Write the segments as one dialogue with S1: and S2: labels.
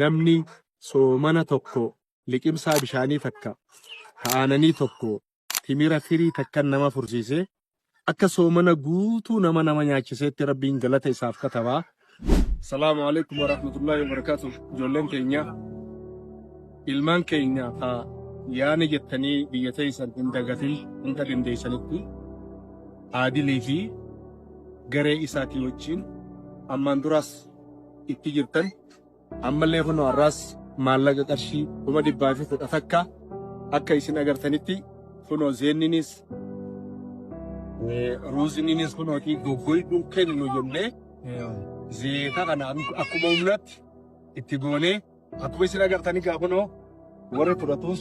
S1: Namni soomana tokko liqimsaa bishaanii takka ka aananii tokko timira firii takkan nama fursiise akka soomana guutuu nama nama nyaachiseetti Rabbiin galata isaaf kataba. Salaamu Aleykum Warahmatullahi Wabarakatuh Ijoolleen teenya Ilmaan keenya ka yaane jettanii biyya teeysan hin dagatin hunda dandeeysanitti Aadilii fi garee isaatii wajjiin ammaan duraas itti jirtan ammallee kunoo har'aas maallaqa qarshii kuma dhibbaa fi kudha takka akka isin agartanitti kunoo zeenninis ruuzininis kunooti goggoyduun kennu jennee zeeta kana akkuma humnatti itti goonee Akkuma isin agartan egaa kunoo warri fudhatus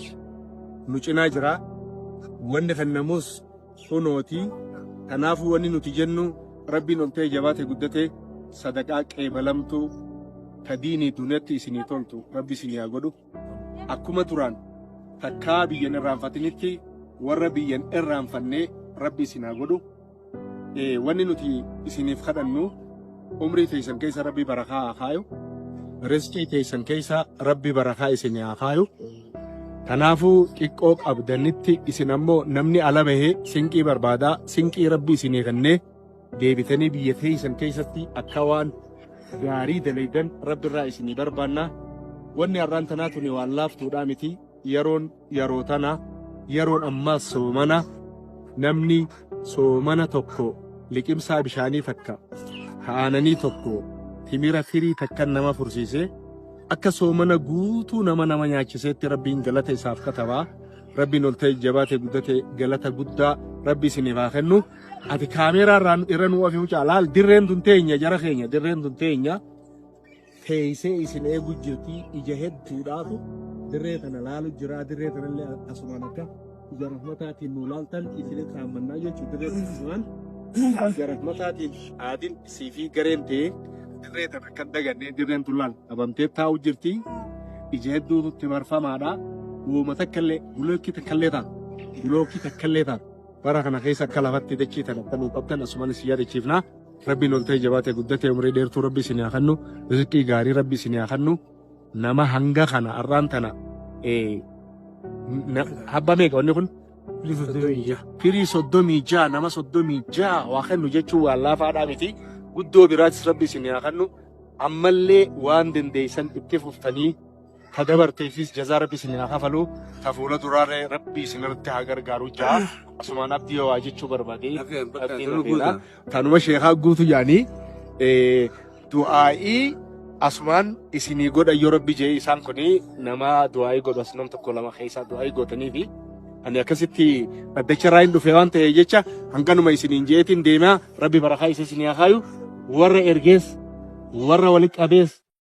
S1: nu cinaa jira. Wanni kennamus kunooti. Kanaafuu wanni nuti jennu rabbiin ol ta'e jabaate guddate sadaqaa qeebalamtuu ta diinii duniyatti isinii toltu rabbi isinii haa godhu. Akkuma duraan takkaa biyyan irraanfatinitti warra biyyan irraanfannee rabbi isin haa godhu. Wanni nuti isiniif kadhannu umrii teessan keessa rabbi barakaa haa kaayu. Risqii teessan keessa rabbi barakaa isin haa kaayu. Kanaafuu xiqqoo qabdanitti isin ammoo namni ala bahee sinqii barbaadaa sinqii rabbi isinii kennee deebitanii biyya teessan keessatti akka waan gaarii dalaydan rabbi irraa isinii barbaanna. Wanni har'aan tanaa tuni waan laaftuudhaa miti. Yeroon yeroo tana, yeroon ammaas soomana, namni soomana tokko liqimsaa bishaanii takka, ka aananii tokko, timira firii takkan nama fursiisee, akka soomana guutuu nama nama nyaachiseetti Rabbiin galata isaaf kataba, Rabbiin ol ta'e jabaate guddate galata guddaa Rabbi isiniif haa kennu, ati kaameeraa irraa irra nu ofi mucaa laal dirreen tun teenya jara keenya dirreen tun teenya. teeysee isin eegu jirtii ija hedduudhaatu dirree tana laalu jiraa dirree tanallee asumaan akka ija rahmataatiin nu laaltan isin irraanfannaa jechuu dirree tana asumaan ija rahmataatiin aadin isii fi gareen tee dirree tana kan dagannee dirreen tun laal qabamtee taa'u jirtii ija hedduu nutti marfamaadha uuma takkallee bulookii takkallee ta'a bulookii takkallee ta'a bara kana keessa akka lafatti dachii tana akka nu qabdan asumaan isin yaadachiifnaa Rabbiin ol ta'e jabaate guddate umrii dheertuu rabbi isin haa kennu rizqii gaarii rabbi isin haa kennu nama hanga kana har'aan tana eh, na- habba meeqa wanni kun firii soddomii ja'a nama soddomii ja'a waa kennu jechuun waan laafaadhaa miti guddoo biraatis rabbi isin haa kennu ammallee waan dandeessan itti fuftanii ta dabarteefis jazaa rabbi isin haa kafalu ta fuula duraaree rabbi isin irratti haa gargaaru ja'a asumaan abdii waa jechuu barbaade abdiin hafeera tanuma sheekaa guutu yaanii du'aa'ii asumaan isinii godha yoo rabbi jee isaan kuni nama du'aa'ii godhu as nam tokko lama keessaa du'aa'ii gootanii fi ani akkasitti dhaddacha irraa hin dhufe waan ta'e jecha hanganuma isiniin jeetiin deemaa rabbi barakaa isa isinii haa kaayu warra ergees warra walitti qabees